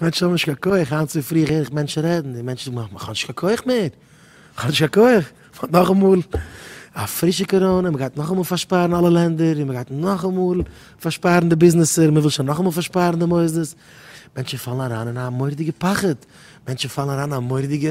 מענטשן האבן נישט קיין כח, היינט צופרי הער איך מענטשן רעדן, די מענטשן זאגן איך האב נישט קיין כח מער, איך האב נישט קיין כח, מען האט נאכאמאל א פרישע קאראנע, מען גייט נאכאמאל פארשפארן אלע לענדער, און מען גייט נאכאמאל פארשפארן די ביזנעסער, מען וויל שוין נאכאמאל פארשפארן די מוסדות, מענטשן פאלן אריין אין א מורא'דיגע פחד, מענטשן פאלן אריין אין א מורא'דיגע.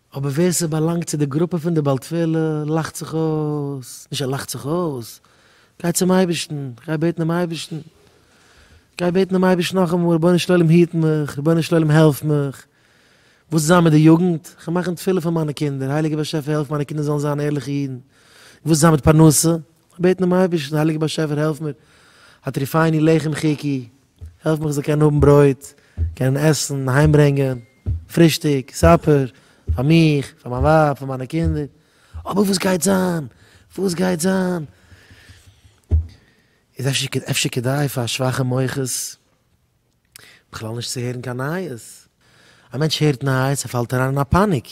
אבער ווער ס'באלאנגט צו די גרופע פון די בעל תפילה לאכט זיך אויס, נישט ער לאכט זיך אויס, גיי צום אייבערשטן, גיי בעטן דעם אייבערשטן, גיי בעטן דעם אייבערשטן נאכאמאל, רבונו של עולם היט מיך, רבונו של עולם העלף מיך, וואס זיין מיט די יוגנט, כ'וועל מאכן תפילה פאר מיינע קינדער, הייליגער באשעפער העלף מיינע קינדער זאלן זיין ערליכע אידן, וואס זיין מיט פרנסה, כ'וועל בעטן דעם אייבערשטן, הייליגער באשעפער העלף מיר, הטריפני לחם חיקי, העלף מיך זיי קענען האבן ברויט, קענען עסן, אהיים ברענגען, פרישטאג, סאפער, פאר מיך, פאר מיין ווייב, פאר מיינע קינדער, אבער וואס גייט זיין, וואס גייט זיין? איז אפשר, אפשר כדאי פאר שוואכע מוחות בכלל נישט צו הערן קיין נייעס? א מענטש הערט נייעס, ער פאלט אריין אין א פאניק,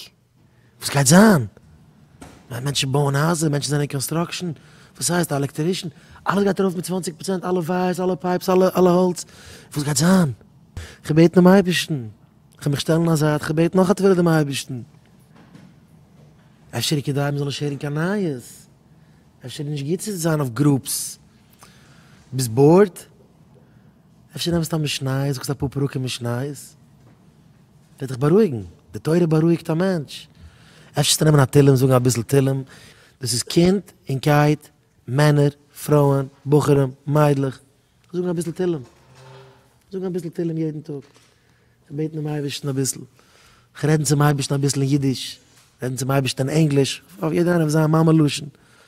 וואס גייט זיין? ווייל מענטשן בויען הייזער, מענטשן זענען אין קאנסטראקשען, וואס הייסט א עלעקטערישן? אלעס גייט ארויף מיט צוואַנציק פראצענט, אלע ווייערס, אלע פייפס, אלע האלץ, וואס גייט זיין? כ'בעט דעם אייבערשטן, כ'וועל מיך שטעלן א זייט, כ'בעט נאך א תפלה דעם אייבערשטן, אפשר כדאי מ'זאל נישט הערן קיין נייעס, אפשר איז נישט גוט צו זיין אויף גרופס, ביסט באורד? אפשר נעמסט א משניות זאגסט אפאר פרקים משניות וועט דיך בארואיגן, די תורה בארואיגט א מענטש, אפשר זאלסטו נעמען א תהלים זאגן אביסל תהלים, דאס איז קינד און קייט, מענער, פרויען, בחורים, מיידלעך, זאגן אביסל תהלים, זאגן אביסל תהלים יעדן טאג, זיך בעטן דעם אייבערשטן אביסל, זיך רעדן צום אייבערשטן אביסל אין אידיש, רעדן צום אייבערשטן אין ענגליש, אויף יעדער איינער אויף זיין מאמע לשון,